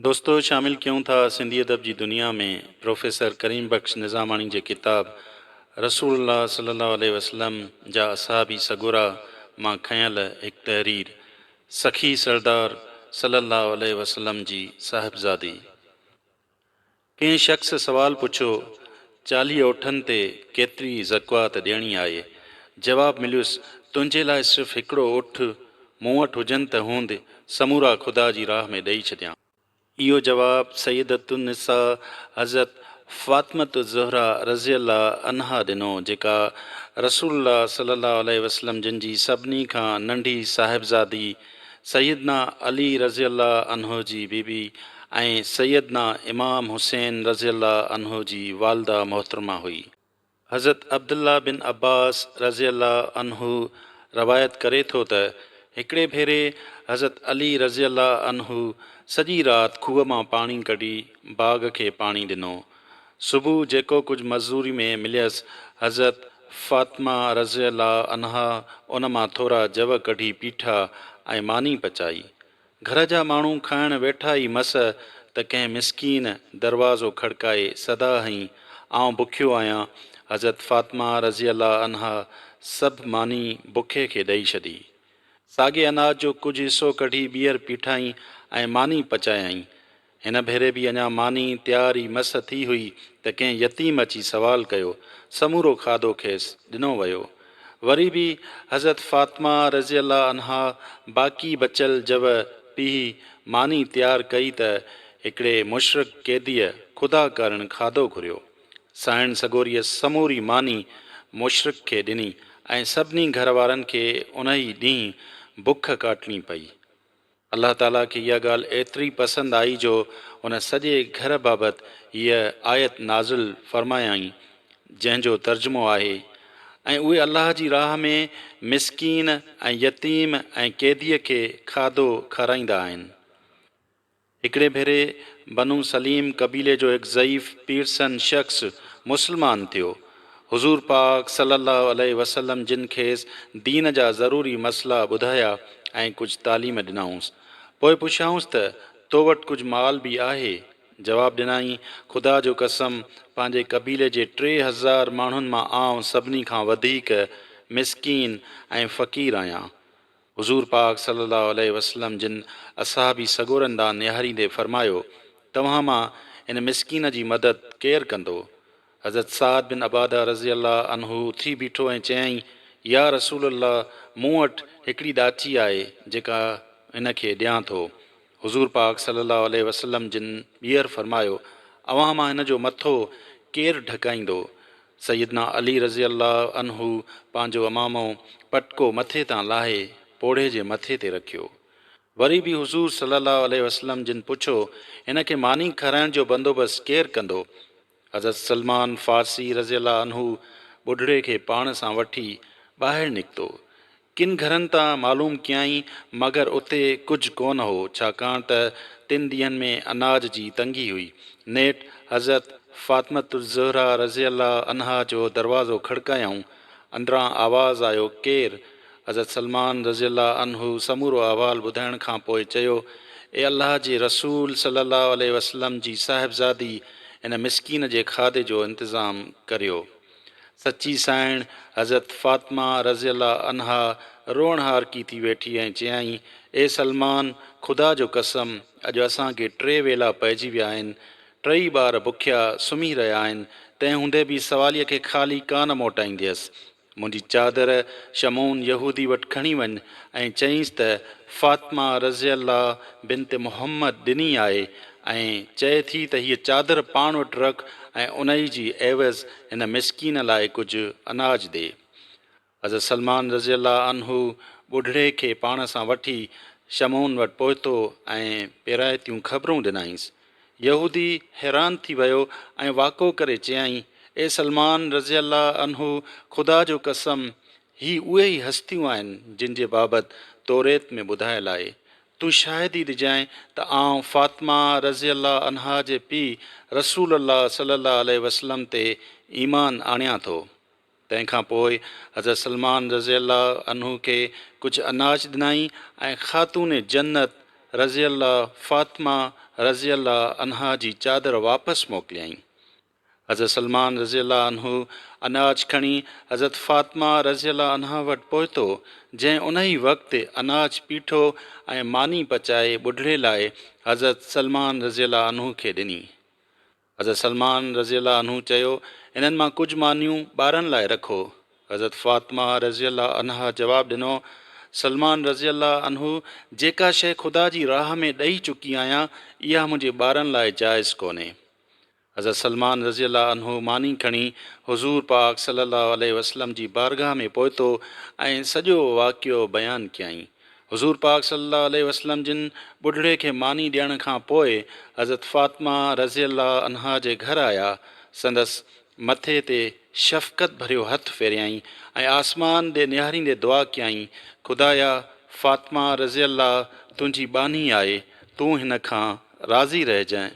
دوستو شامل ڪيون ٿا سنڌي ادب جي دنيا ۾ پروفيسر ڪريم بخش نظاماڻي جي ڪتاب رسول الله صلي الله عليه وسلم جا اصحابي سڳورا مان کنيل هڪ تحرير سخي سردار صلي الله عليه وسلم جي صاحبزادي ڪنهن شخص سوال پڇيو، چاليهه اوٺن تي ڪيتري زڪوات ڏيڻي آهي؟ جواب مليس، تنهنجي لاء صرف هڪڙو اٺ مون وٽ هجن ته هوند سمورا خدا جي راهه ۾ ڏئي ڇڏيان. اهو جواب سيدة النساء حضرت فاطمة الزهراء رضي الله عنها ڏنو، جيڪا رسول الله صلي الله عليه وسلم جن جي سڀني کان ننڍي صاحبزادي سيدنا علي رضي الله عنه جي بي بي ۽ سيدنا امام حسين رضي الله عنه جي والده محترمه هئي. حضرت عبدالله بن عباس رضي الله عنه روايت ڪري ٿو ته هڪڙي ڀيري حضرت علي رضي الله عنه سڄي رات کوهه مان پاڻي ڪڍي باغ کي پاڻي ڏنو. صبح جيڪو ڪجهه معذوري ۾ مليس، حضرت فاطمه رضي الله عنها ان مان ٿورا جوء ڪڍي پيٺا ۽ ماني پچائي. گهر جا ماڻهو کائڻ ويٺا ئي مس ته ڪنهن مسڪين دروازو کڙڪائي صدا هنئي، آئون بکيو آهيان. حضرت فاطمه رضي الله عنها سڀ ماني بکي کي ڏئي ڇڏي. ساڳئي اناج جو ڪجهه حصو ڪڍي ٻيهر پيٺائين ۽ ماني پچايائين. هن ڀيري به اڃا ماني تيار ئي مس ٿي هئي ته ڪنهن يتيم اچي سوال ڪيو. سمورو کاڌو کيس ڏنو ويو. وري به حضرت فاطمه رضي الله عنها باقي بچيل جوء پيهي ماني تيار ڪئي ته هڪڙي مشرڪ قيديء خدا ڪارڻ کاڌو گهريو. سائڻ سڳوريء سموري ماني مشرڪ کي ڏني ۽ سڀني گهر وارن کي انهي ڏينهن بک ڪاٽڻي پئي. الله تعاليٰ کي اها ڳالهه ايتري پسند آئي جو ان سڄي گهر بابت هيء آيت نازل فرمايائين، جنهن جو ترجمو آهي، ۽ اهي الله جي راهه ۾ مسڪين ۽ يتيم ۽ قيديء کي کاڌو کارائيندا آهن. هڪڙي ڀيري بنو سليم قبيلي جو هڪ ضعيف پيرسن شخص مسلمان ٿيو. حضور پاڪ صلّي اللّٰه عليه وسلّم جن کيس دين جا ضروري مسئلا ٻڌايا ۽ ڪجھ تعليم ڏنائونس. پوء پڇيائونس ته، تو وٽ ڪجھ مال به آهي؟ جواب ڏنائين، خدا جو قسم پنهنجي قبيلي جي ٽي هزار ماڻهن مان آئون سڀني کان وڌيڪ مسڪين ۽ فقير آهيان. حضور پاڪ صلّي اللّٰه عليه وسلّم جن اصحابي سڳورن ڏانهن نهاريندي فرمايو، توهان مان هن مسڪين جي مدد ڪير ڪندو؟ حضرت سعد بن عباده رضي اللّٰه عنه اٿي بيٺو ۽ چيائين، يا رسول الله مون وٽ هڪڙي ڏاچي آهي جيڪا هن کي ڏيان ٿو. حضور پاڪ صلّي اللّٰه عليه وسلّم جن ٻيهر فرمايو، اوهان مان هن جو مٿو ڪير ڍڪائيندو؟ سيدنا علي رضي الله عنه پنهنجو عمامو، پٽڪو، مٿي تان لاهي پوڙهي جي مٿي تي رکيو. وري به حضور صلّي اللّٰه عليه وسلّم جن پڇو، هن کي ماني کارائڻ جو بندوبست ڪير ڪندو؟ حضرت سلمان فارسي رضي الله عنه ٻڍڙي کي پاڻ سان وٺي ٻاهر نڪتو. ڪن گهرن تان معلوم ڪيائين مگر اتي ڪجهه ڪونه هو ڇاڪاڻ ته تن ڏينهن ۾ اناج جي تنگي هئي. نيٺ حضرت فاطمة الزهرا رضي الله عنها جو دروازو کڙڪايائون. اندران آواز آيو ڪير؟ حضرت سلمان رضي الله عنه سمورو احوال ٻڌائڻ کان پوء چيو، اي الله جي رسول صلّي الله عليه وسلّم جي صاحبزادي هن مسڪين جي کاڌي جو انتظام ڪريو. سچي سانئڻ حضرت فاطمه رضي الله عنها روئڻ هارڪي ٿي ويٺي ۽ چيائين، اي سلمان! خدا جو قسم اڄ اسان کي ٽي ويلا پئجي ويا آهن، ٽئي ٻار بکيا سمهي رهيا آهن، تنهن هوندي به سواليء کي خالي ڪانه موٽائينديس، منهنجي چادر شمعون يهودي وٽ کڻي وڃ ۽ چئينس ته فاطمه رضي الله بنت محمد ڏني آهي ۽ چئي ٿي ته هيء چادر پاڻ وٽ رک ۽ انهي جي عيوض هن مسڪين لاء ڪجهه اناج ڏي. حضرت سلمان رضي الله عنه ٻڍڙي کي پاڻ سان وٺي شمعون وٽ پهتو ۽ پيرائتيون خبرون ڏنائينس. يهودي حيران ٿي ويو ۽ واڪو ڪري چيائين، اي سلمان رضي الله عنه خدا جو قسم هي اهي ئي هستيون آهن جن جي بابت توريت ۾ ٻڌايل آهي. تون شاهدي ڏجانء ته آئون فاطمه رضي الله عنها جي پيء رسول الله صلي الله عليه وسلم تي ايمان آڻيان ٿو. تنهن کان پوء حضرت سلمان رضي الله عنه کي ڪجهه اناج ڏنائين ۽ خاتون جنت رضي الله فاطمه رضي الله عنها جي چادر واپس موڪليائين. حضرت سلمان رضي الله عنه اناج کڻي حضرت فاطمه رضي الله عنها وٽ پهتو، جنهن انهي وقت اناج پيٺو ۽ ماني پچائي ٻڍڙي لاء حضرت سلمان رضي الله عنه کي ڏني. حضرت سلمان رضي الله عنه چيو، انهن مان ڪجهه مانيون ٻارن لاء رکو. حضرت فاطمه رضي الله عنها جواب ڏنو، سلمان رضي الله عنه جيڪا شيء خدا جي راهه ۾ ڏئي چڪي آهيان، اها منهنجي ٻارن لاء جائز ڪونهي. حضرت سلمان رضي الله عنه ماني کڻي حضور پاڪ صلي الله عليه وسلم جي بارگاهه ۾ پهتو ۽ سڄو واقعو بيان ڪيائين. حضور پاڪ صلي الله عليه وسلم جن ٻڍڙي کي ماني ڏيڻ کان پوء حضرت فاطمه رضي الله عنها جي گهر آيا، سندس مٿي تي شفقت ڀريو هٿ ڦيريائين ۽ آسمان ڏي نهاريندي دعا ڪيائين، خدايا! فاطمه رضي الله تنهنجي ٻانهي آهي، تون هن کان راضي رهجانء.